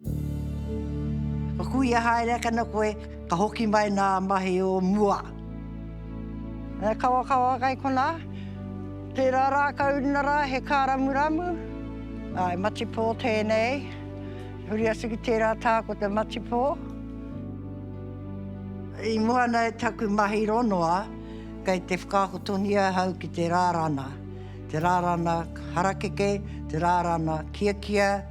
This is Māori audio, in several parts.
Ka kuia haere ake ana koe, ka hoki mai nā mahi o mua. He kawakawa kai konā, tērā rākau ina rā he kāramuramu, ā, he matipō tēnei, huri atu ki tērā tā ko te matipō. I mua ana i taku mahi ronoa, kei te whakaako tonu ia ahau ki te rārana, te rārana harakeke, te rārana kiakia,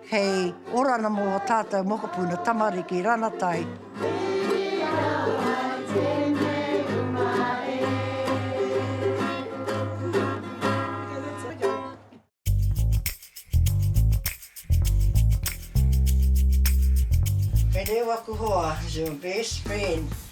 Hei orana mō ō tātou mokopuna, tamariki, ranatai. He reo aku hoa, your best friend.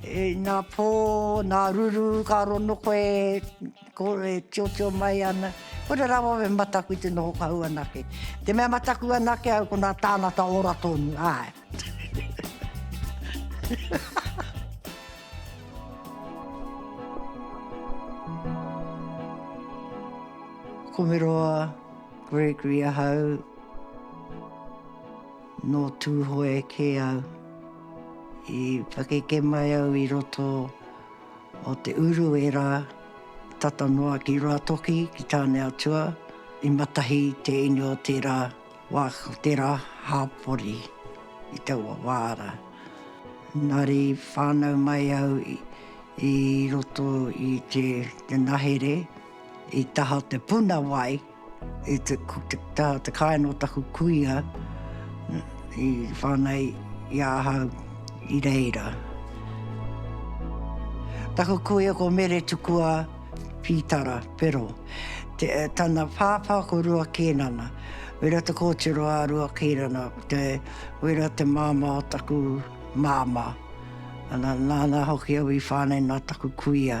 Nā pō, nā ruru, ka rono koe, e tiotio mai ana. Kore rawa we mataku i te noho kahu anake. Te mea mataku anake au ko nā tāngata ora tonu, āe. Ko Meroa, Gregory ahau. Nō Tūhoe kē au. I pakeke mai au i roto o Te Uru ērā tata noa ki Ruatoki, ki Tāneatua, i matahi te ine o tērā wā, o tērā hāpori i taua wā rā. Engari whānau mai au i roto i te nahere i taha o te puna wai. I te, tā te kāinga o taku kuia i whāngai i a ahau i reira. Taku kuia ko Mere Tukua Pītara, Pero, te, tana pāpā ko Rua Kēnana, Wera Te Kōtiro a Rua Kēnana, te, Wera te māmā o taku māmā. Ana, nāna hoki au i whāngai nā taku kuia.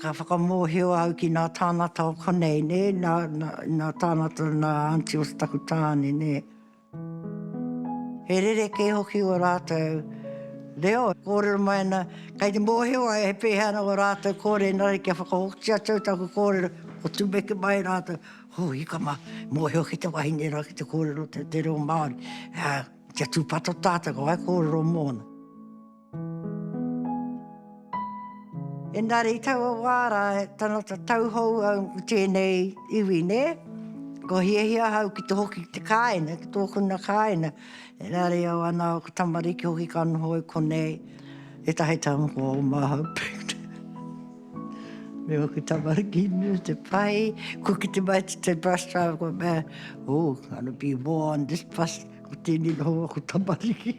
Ka whakamōhio au ki nā tāngata o konei, nē, nā, nā, nā tāngata, nā aunty o taku tāne, nē. He rerekē hoki ō rātou reo. Kōrero mai ana, kei te mōhio ai he pēhea ana ō rātou kōrero, engari kia whakahoki atu au taku kōrero, kua tumeke mai rātou, Hū, ika mā, e mōhio ake te wahine rā ki te kōrero te, te reo Māori. Ā, kia tūpato tātou, ka whaikōrero mōna. Engari i taua wā rā, tana tatau hou au ki tēnei iwi, nē? Kua hiahia ahau ki te hoki ki te kāinga, ki tōku nā kāinga, engari au anā, ōku tamariki hoki ka noho i konei, ētahi taonga kua oma ahau me ōku tamariki nui te pai, kua kite mai te te bus driver kua mea, ooh, gonna be war on this bus, ko tēnei noho aku tamariki.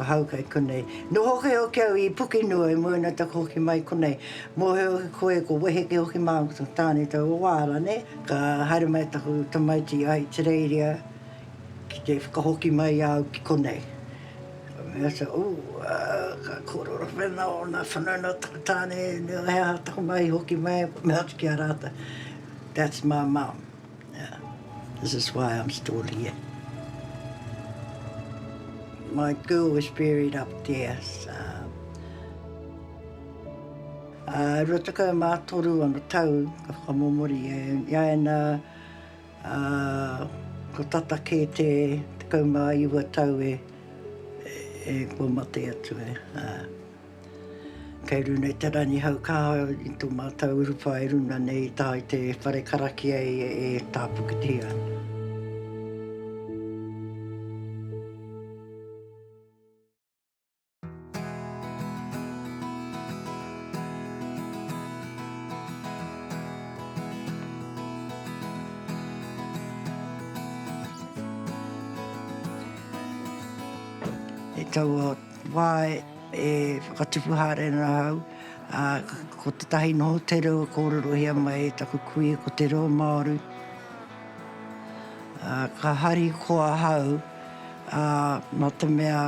Ahau kei konei. Noho hoki au ki au i Pukenua i moena taku hoki mai konei. Mohe hoki koe ko weheke hoki mau ko taku tane tau o waara ne. Ka haere mai taku tamaiti i Ahitereiria ki te whakahoki mai i a au ki konei. Ka mea au sanau, ooh ka korero whena ona whanau no taku tane, no he aha taku mahi hoki mai. Ka mea atu ki a ratou, that's my mum. This is why I'm still here. My girl was buried up there. Ā, rua tekau mā toru ana tau ka whakamomori e, i a ēnā, ā, ko tata kē te tekau mā iwa tau e, e kua mate atu e, ā. Kei runa i te Rangihau kaha i to matou urupa i runa nei i taha i te whare karakia e tapukitihia ana. I taua wa e. E whakatupu haere ana ahau, ā, ko tētahi noho te reo e kōrerohia mai e taku kui ko te reo Māori. Ā, ka harikoa ahau, ā, nā te mea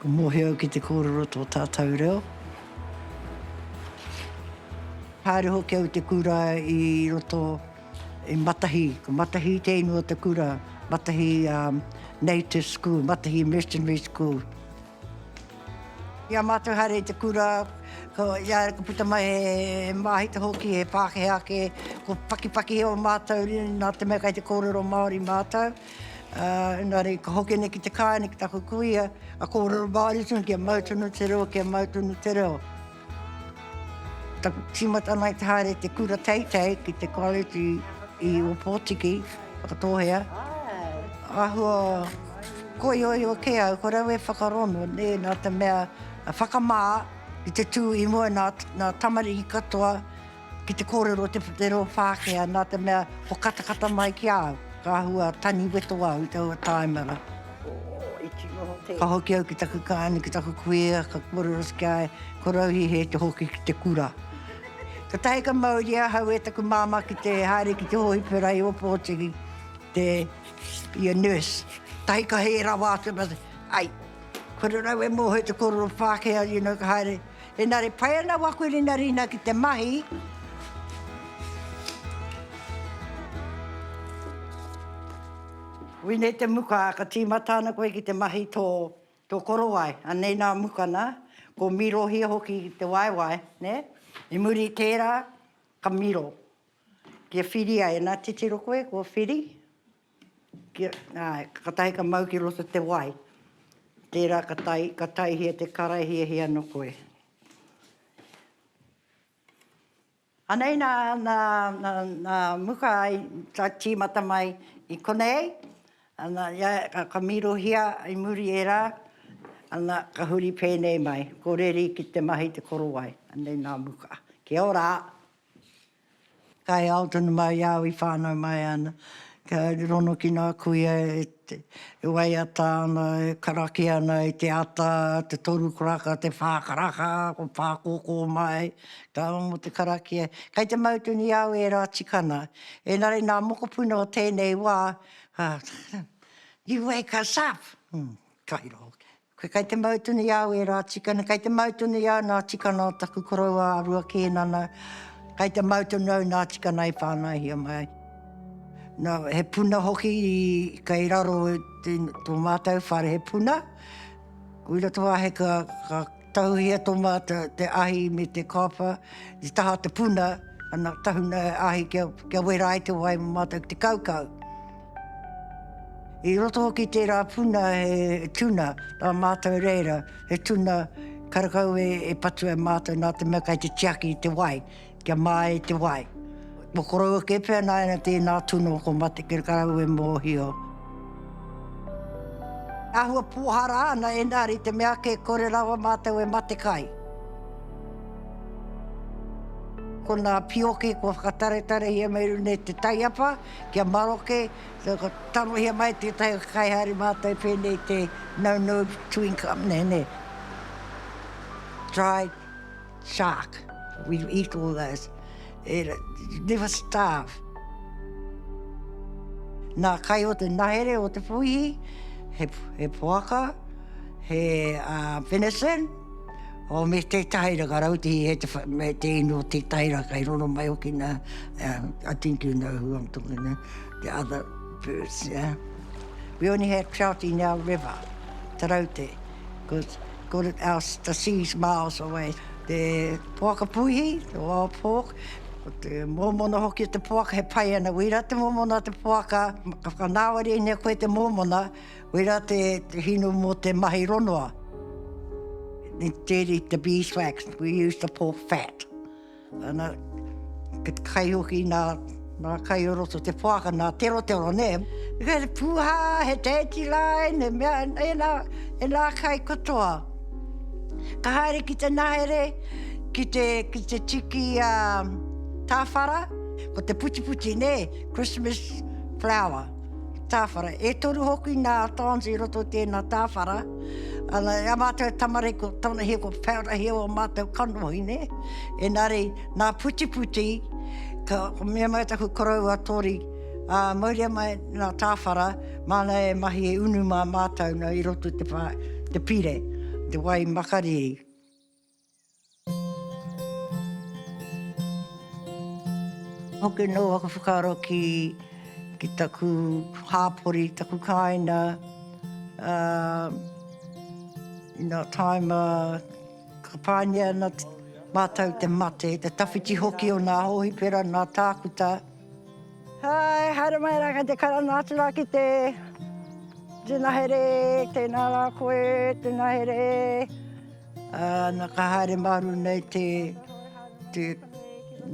ka mōhio au ki te kōrero tō tātou reo. Haere hoki au i te kura i roto. I Matahi, ko Matahi te inu o te kura, Matahi Native School, Matahi Missionary School. I a mātou haere i te kura, ko ia ka puta mai he māhita hoki, he Pākehā ake, ko Pakipakihi o mātou ri, nā te mea kei te kōrero Māori mātou. Engari ka hoki nei ki te kāinga ki taku kuia, ka kōrero Māori tonu, kia mau tonu te reo, kia mau tonu te reo. Taku tīmata ana i te haere i te kura teitei ki te College i Opotiki, Whakatōhea. Āhua koioio kē au, ko rau e whakarono, nē, nā te mea whakamā i te tū i mua nā tamariki katoa, Ki te kōrero o te putero o Whākea, nā te mea ko katakata mai ki a au, ka āhua tani weto au i taua tāimara. Ka hoki au ki taku kāne, ki taku kuia, ka kōrero ki a ia, ko Rauhihe te hoki ki te kura. Kātahi ka mauria ahau e taku māmā ki te haere ki te hōhipera i Ōpōtiki, te, be a nurse. Kātahi ka hē rawa atu, ai, kore rau e mōhio te kōrero o Whākea, you know, ka haere. Engari pai ana waku rinarina ki te mahi. Wine te muka, ka tīmata ana koe ki te mahi tō, tō korowai. Anei nā mukana, ko Mīrohia hoki te waewae, nē? I muri i tērā, ka miro. Kia whiria, ena titiro koe, kua whiri. Ka tahi ka mau ki roto te wai, tērā ka tahi, ka taihia te karae hiahia no koe. Anei nā, nā, nā, nā muka ai, ka tīmata mai i konei, ana, ia, ka, ka mīrohia i muri ērā, ana, ka huri pēnei mai, ko Reri ki te mahi te korowai, anei nā muka. Kia ora! Kai ao tonu ma i au i whanau mai ana, kia ronokina a kuia e waiata ana, e karaki ana i te ata, te toru karaka, te wha karaka, ko Pakoko mai, ka au mo te karakia. Kai te mau tonu i au era tikana, enari na mokopuna o tenei wa, you wake us up! Kai ro hoki. Koe kei te mau tonu i au e rā tikana, kei te mau tonu i au nā tikana o taku koroua a Rua Kēnana, kei te mau tonu au nā tikana e whānaihia mai ai. Nā, he puna hoki i, kei raro i te, tō mātou whare, he puna. I roto wā hei ka, ka tahuhia tō mātou te ahi me te kāwha, i taha o te puna, ana, tahuna he ahi kia, kia wera ai te wai mō mātou ki te kaukau. I roto hoki tērā puna he tuna, nā mātou reira, he tuna karakau e patua e mātou nā te mea kei te tiaki i te wai, kia māi te wai. Ko koroua kē pea nāianei tēnā tuna o ko mate karakau e mōhio. Āhua pōhara ana engari te mea kē kore rawa mātou e mate kai. Ko nā pioke kua whakataretarehia me runei te taiapa, Kia maroke, ka tarohia mai tētahi o te kaihaere mātai pēnei te No No Twin Club nei nei, Dry Shark, we eat all those, never starve. Nā, kai o te nahere o te puihi, he poaka, he venison, Oh me tetahi ra ka rautihi e te me te ino tetahi ra kai roro mai hoki na I think you know who I'm talking to the other birds yeah we only had trout in our river te raute because got it out the seas miles away te poaka puihi the wild pork te momona hoki te poaka he pai ana wira te momona te poaka ka whakanawa ri ne koe te momona Wera te hinu mo te mahi ronoa. Instead the beeswax we use the pork fat. Ana ke te kai hoki nā, nā kai o roto te whāka, nā tero tero, nē. He pūhā, he tēti rā, ēne mea, ēnā, ēnā kai katoa. Ka haere ki te nahere, ki te, ki te tiki a tāwhara, ko te putiputi, nē, Christmas flower. Tāwhara. E toru hoki nā Towns i roto i tēnā tāwhara. Ana, e a mātou e tamariki ko tana hia ko Peorahia o mātou kanohi, nē. Enari, nā Putiputi, ka, ko mea mai taku koroua Tori, ā, mauria mai nā tāwhara, māna e mahi e unu mā mātou nō i roto i te whā, te pire, te wai makariri. Hoki anō aku whakaaro ki taku hāpori, taku kāina, ā, nā taima ka pāngia ana mātou te mate, te tawhiti hoki o nā hōhipera, nā Tākuta. Hai, haere mai rā kei te karanga atu rā ki te Tēnā here, tēnā rā koe, tēnā here. Nā ka haere māru nei te, te,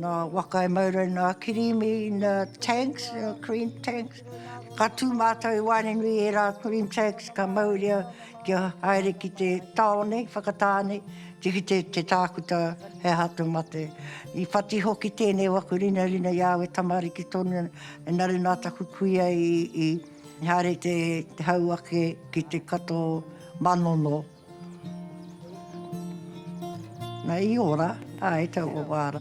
nā waka e mau rau nā kirīmi, nā tanks, nā cream tanks. Ka tū mātou i waenganui i ērā cream tags ka mauria kia haere ki te tāone, Whakatāne, te kite te tākuta he aha te mate. I whati hoki tēnei waku rinarina i au e tamariki tonu ana ina nā taku kuia i haere te hau ake ki te kato manono. Nei i ora, a e tau o wara.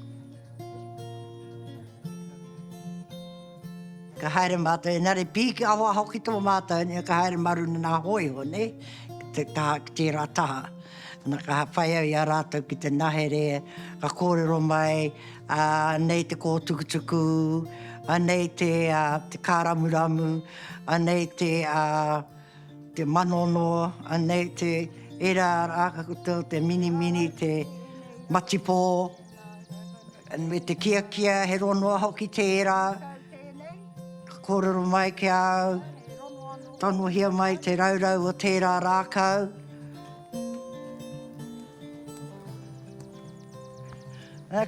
Ka haere mātou, engari pī ki ahoaho ki tō mātou, nē, ka haere mā runga nā hōiho, nē, ki te taha, ki tērā taha. Na, ka whai au i a rātou ki te nahere, ka kōrero mai, ā, anei te kōtukutuku, anei te, ā, te kāramuramu, anei te, ā, Te manono anei te era raka koutou te minimini te matipo me te kiakia he ronoa hoki te era ka korero mai ki a au tanohia mai te raurau o te era rakau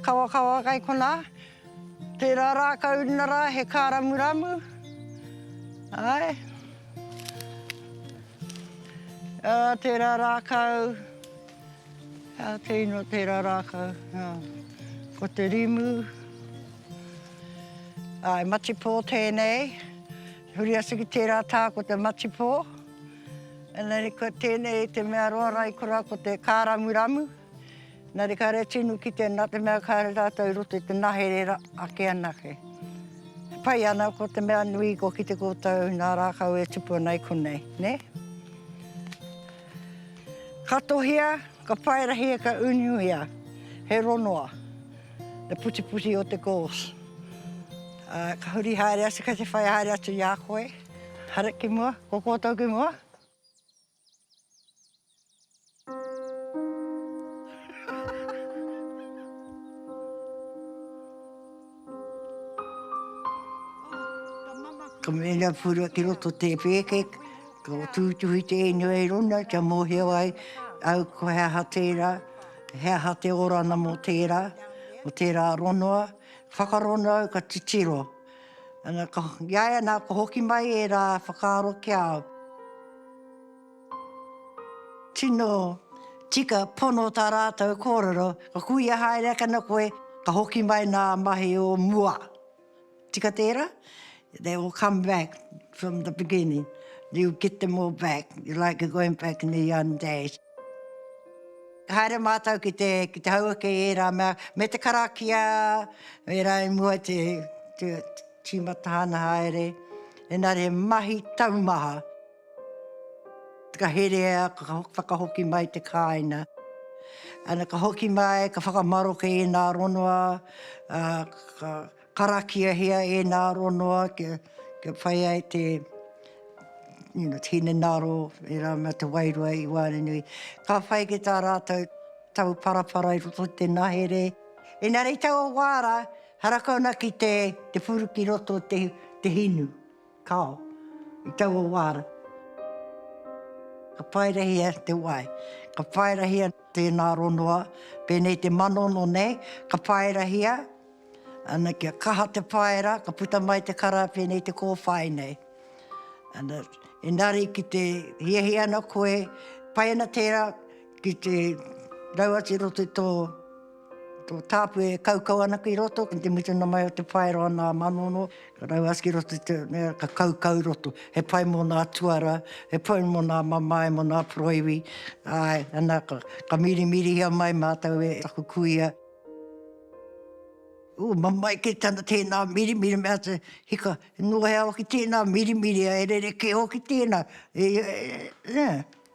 kawakawa kai kona Tērā rākau na rā he kāramuramu, āe. Ā, tērā rākau, ā, kei noa tērā rākau, ā. Ko te rimu, āe, matipō tēnei, huri atu ki tērā tā ko te matipō. Engari ko tēnei te mea roa raikura ko te kāramuramu. Na re kare tinu kite na te mea kare ratou i roto i te nahere ake anake. E pai ana ko te mea nui kua kite koutou na rakau e tupu ana i konei, ne? Katohia, ka paerahi e ka unuia he ronoa, le putiputi o te gauze. A ka huri haere atu kei te whai haere atu i a koe. Hare ki mua, ko koutou ki mua. Ka mena pura ki roto te pēke, ka tūtuhi tēnei ai rona kia mōhio ai au ko he aha tērā, he aha te orana mō tērā, mō tērā rongoa. Whakarongo au ka titiro. Ana, ka, i a ia nā, ka hoki mai ērā whakaaro ki a au. Tino tika pono tā rātou kōrero, ka kuia haere ake ana koe, ka hoki mai nā mahi o mua. Tika tērā? They will come back from the beginning. You get them all back. You're like you're going back in the young days. Ka haere mātou ki te, ki te hauwake i ērā mea, me te karakia, ērā i mua te, te, Tīmata ana haere, engari he mahi taumaha. Ka herea, ka whakahoki mai te kāina. Ana, ka hoki mai, ka whakamaroke ēnā rongoa, ka karakiahia ēnā rongoa kia whai ai te hinengaro, e rā mā te wairua i waenganui. Ka whai ki tā rātou tauparapara i roto i te nahere. Engari i taua wā rā, Haraka ana ki te te puru ki roto te te hinu, kao, i taua wāra. Ka paerehia te wai, ka paerehia tēnā ronoa, pēnei te manono nei, ka paerehia, ana, kia kaha te paera, ka puta mai te kara pēnei te kōwhai nei. Ana, engari ki te hiahia ana koe, pai ana tērā ki te rau atu i roto i tō. Tō tāpu e kaukau ana ki roto, ki te mutunga mai o te whaero ana a Manono, ka rau atu ki roto i te mea, ka kaukau i roto. He pai mō nā tuara, he pai mō nā mamae, mō nā poroiwi, āe, ana, ka mirimirihia mai mātou e taku kuia. Ū, mamae kē tana tēnā mirimiri, mea atu, hika, noa he awa ki tēnā mirimiri, e rerekē hoki tēnā, e, e, e, e, e,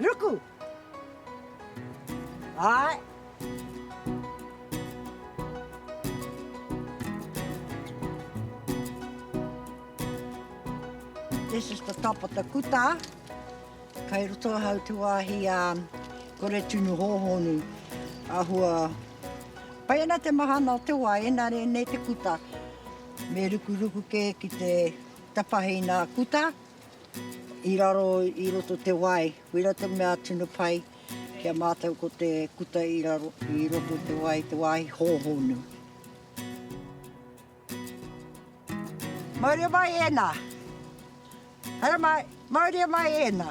Ruku! Āe! This is the top of the kuta. Kai roto ahau te wāhi a Kore Tunu Hōhonu. Ahua, pai ana te mahana o te wā, engari nei te kuta. Me rukuruku kē ki te tapahina kuta. I raro i roto te wai, wera te mea tino pai ki a mātou ko te kuta i raro i roto te wai, te wāhi hōhonu. Mauria mai ēnā! Haere mai! Mauria mai ēnā!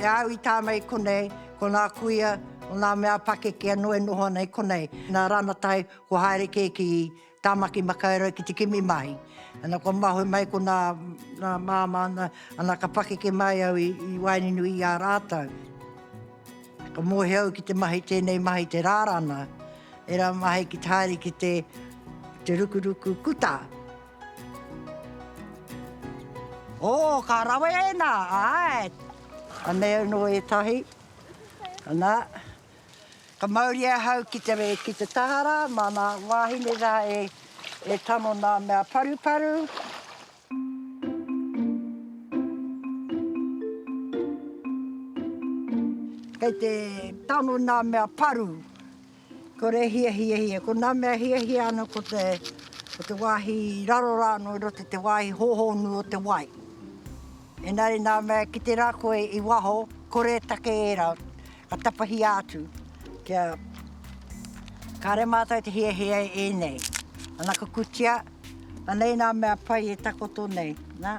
E au i tāna i konei, ko nā kuia, ko nā mea pakeke anō e noho ana i konei. Nā Ranatai, kua haere kē ki Tāmaki Makaurau ki te kimi mahi. Ana, kua mahue mai ko nā māmā, ana, ka pakeke mai au i waenuinui i a rātou. Ka mōhio au ki te mahi, tēnei mahi te rārana, ērā mahi ki te haere ki te rukuruku kutā. Oh ka rawe ēnā, āe. Anei anō ētahi, anā. Ka mauri ahau ki te taha rā, māna wāhine rā e tano nā mea paruparu. Kei te tano nā mea paru. Kore e hiahia ia. Ko nā mea e hiahia ana ko te, ko te wāhi i raro rā anō i roto i te wāhi hōhonu o te wai. Engari nā mea e kite rā koe i waho, kore e take ērā, ka tapahia atu kia, kāre mātou te hiahia e ēnei. Ana ka kutia, anei nā mea pai e takoto nei, nā.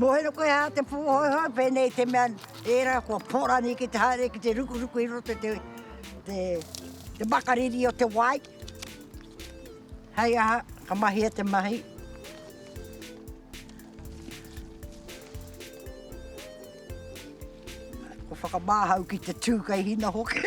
Mohero koe hā te pūhoihoi pēnei te mea ērā kua pōrani ki te haere ki te rukuruku i roto te te makariri o te wai. Hei aha, ka mahia te mahi. Ko whakamāhau ki te tū kei hina hoki.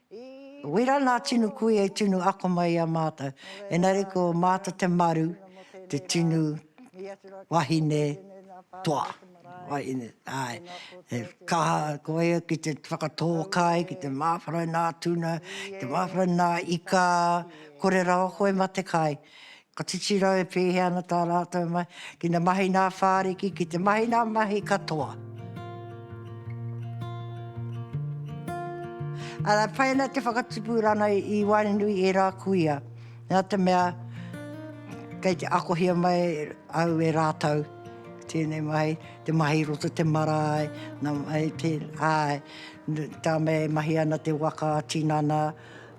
Wera nā tinu kui e tinu ako mai i a mātou, engari ko mātou te maru, te tinu wahine toa, wahine, āe, he kaha ko ia ki te whakatō kai, ki te māwhara nā tuna, ki te māwhara nā ika, kore rawa koe mā te kai, Ka titiro e pēhea ana tā rātou mahi ki te mahi nā whāriki, ki te mahi nā mahi katoa. Arā, pai ana te whakatupu rānei i waenganui i ērā kuia, nā te mea kei te akohia mai au e rātou i tēnei mahi, te mahi i roto te marae, nā, āe, tā me mahi ana te waka, tinana,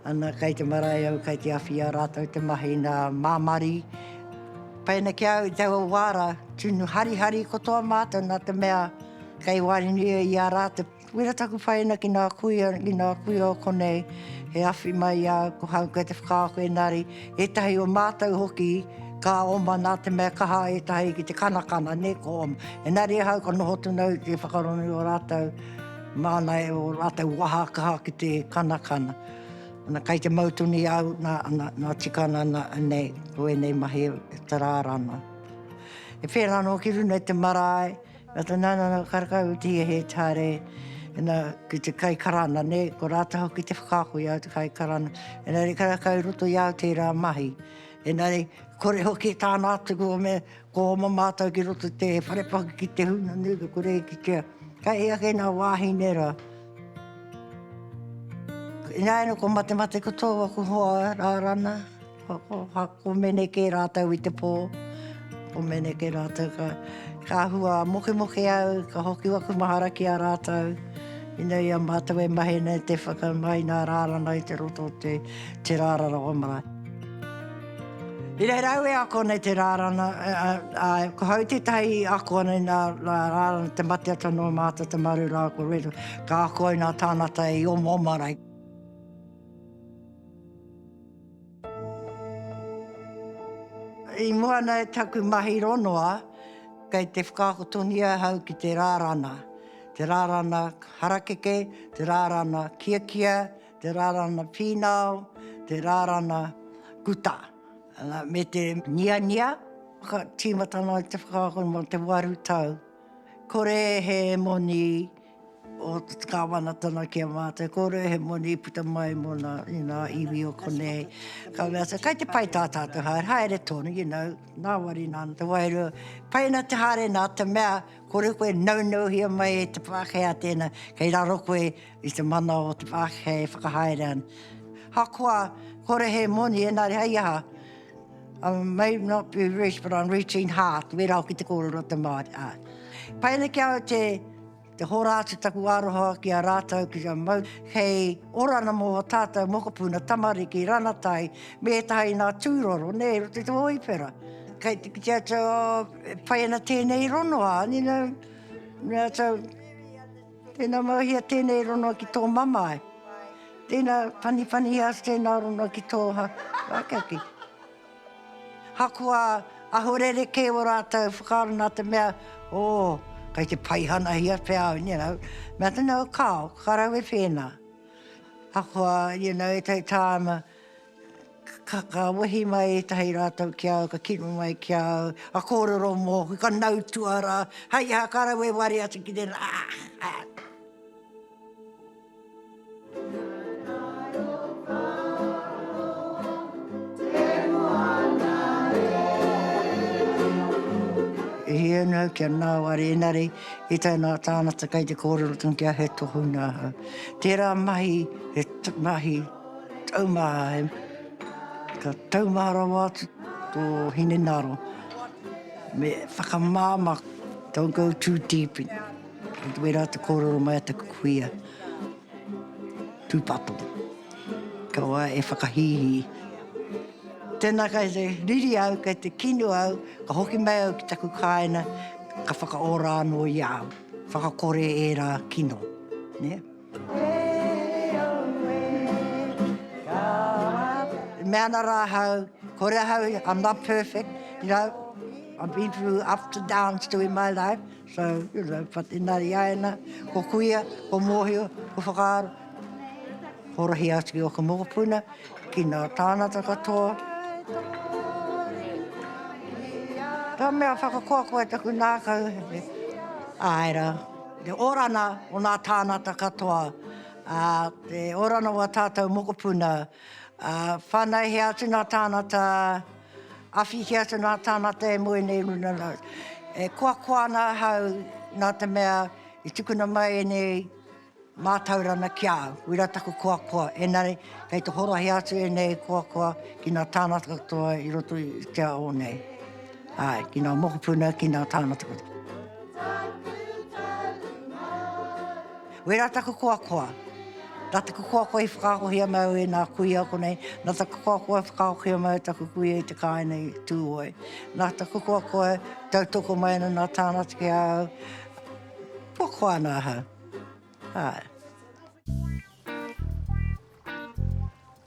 Ana kei te marae au kei te awhia ratou te mahi na Mamari pena ki au i taua wa ra tunu harihari kotoa matou na te mea kei warenuia i a ra te wera taku whaena ki nga kuia ki nga kuia o konei he awhi mai i a au ko hau kei te whakaako enari etahi o matou hoki ka oma na te mea kaha etahi ki te kanakana ne ko oma enari ahau ka noho tunu au ki te whakarongo i o ratou. Māna e ō rātou waha kaha ki te kanakana. Ana, kei te mau tonu i a au, nā, nā, nā tika ana nā, nei, ko ēnei mahi e tarāra ana. E pērā anō ki runga i te marae, nā te nā, nā, nā, karekau i te hia he tare, nā, ki te kai karana, nē, ko rātou hoki te whakaako i au te kai karana. Engari karekau i roto i au tērā mahi. Engari, kore hoki tāna atu kua mea, Ko oma mātou ki roto i te whare paku ki te huna nui ka kore e kitea kai hea kei nā wāhine rā. Ināianei ko Matemate ko tōu aku hoa rā rana, ko, ko, ko mene kē rātou i te pō, ko mene kē rātou ka, ka hua mokemoke au, ka hoki aku mahara ki a rātou. Ina ia mātou e mahi nei te whakamai nā rā rana i te roto te, te rārara o marae. I reira au e ako nei te rārana, āe, ko hau tētahi i ako ana i nā rārana te mate atu anō mātou te maru rā ko Reru, ka ako ai nā tānata i omaoma ana ai. I mua ana i taku mahi ronoa, kei te whakaako tonu au hau ki te rārana, te rārana harakeke, te rārana kiakia, Te rarana pīnao, te rarana kuta, me te niania, ka tīmata noa te whakaako mō te waru tau. Kore he moni o te kāwanatanga ki a mātou, kore he moni puta mai mō nā, you know, iwi o konei. Ka mea, so, kai te pai tā tātou haere, haere tonu, you know, nāwari nā te wairua. Pai ana te haere nā te mea, kore koe naunauhia mai e te Pākehā tēnā, kei raro koe, I te mana o te pākehā e whakahaere ana. Ahakoa kore he moni, engari hei aha, I may not be rich, but I'm rich in heart, wērā hoki te kōrero o te Māori, āe. Pai ana ki a au te hora atu taku aroha ki a rātou, ki a Mau, hei orana mō ō tātou mokopuna, tamariki, ranatai, me ētahi nā tūroro, nē, i roto i te hōipera. Kei te kite atu, oh, e pai ana tēnei rongoā, you know, me ātou. Tēnā Maruahia tēnei ronua ki tō mamae. Tēnā Panipaniha atu tēnā ronua ki tō hākaki. Hakoa aho rerekē o rātou whakaaro nā te mea, ō, kei te paihanahia pea au, you know. Mea tēnā, kāo, ka rau e whēnā. Hakoa, you know, e tau tāma. Ka wehi mai ētahi rātou ki a au, ka kino mai ki a au, ka kōrero mōku, ka nau tuarā, hai aha ka rau e ware atu ki tēnā, aah! E hia ana au kia nāwari engari i taunā tāngata kei te kōrero tonu kia he tohunga ahau. Tērā mahi, he mahi. Tau mā ai. Ka tau mā rawa atu tō hinengaro me whakamāmā, don't go too deep in, i wērā te kōrero mai a te kuia, tūpato. Kia wā e whakahīhī. Tēnā kei te riri au, kei te kino au, ka hoki mai au ki taku kāina, ka whakaora anō i a au, whakakore ērā kino. E mea ana rā ahau, kore ahau, I'm not perfect, you know, I've been through ups and downs too in my life, so, you know, but inā i a ia nā, ko kuia, ko mōhio, ko whakaaro, ko rahi atu ki ōku mokopuna, ki nā tāngata katoa. Ka mea, whakakoakoa taku nākau, āe rā. Te orana o nā tānata katoa, ā, te orana o ā tātou mokopuna, ā, whānaihia atu nā tānata, awhihia atu nā tānata e moe nei runā rā. E koakoa ana ahau nā te mea i tukuna mai ēnei mātaurana ki a au, uira taku koakoa, engari kei te horohia atu ēnei koakoa ki nā tānata katoa i roto i te ao nei. Āe, ki ngā mokopuna, ki ngā tāngata katoa. Wērā taku koakoa. Nā taku koakoa i whakaakohia mai au e ngā kuia ako nei, nā taku koakoa i whakaakohia mai taku kuia i te kāinga i Tūhoe. Nā taku koakoa e tautoko mai ana ngā tāngata ki a au, kua koa ana ahau. Āe.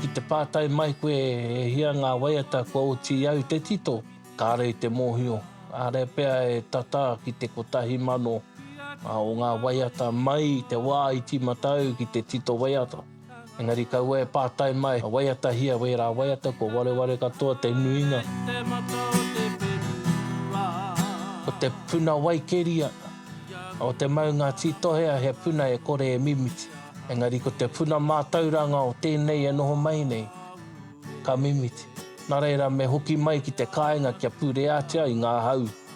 Ki te pātai mai koe e hia ngā waiata kua oti au te tito, kāre i te mōhio, kāre pea e tata ki te kotahi mano o ngā waiata mai i te wā i tīmata au ki te tito waiata. Engari kaua e pātai mai, ka waiatahia wērā waiata kua wareware katoa te nuinga o te puna wai keria, ā, o te maunga tītohea he puna e kore e mimiti. Engari ko te puna mātauranga o tēnei e noho mai nei, ka mimiti. Nā reira me hoki mai ki te kāinga kia pureatia i ngā hau.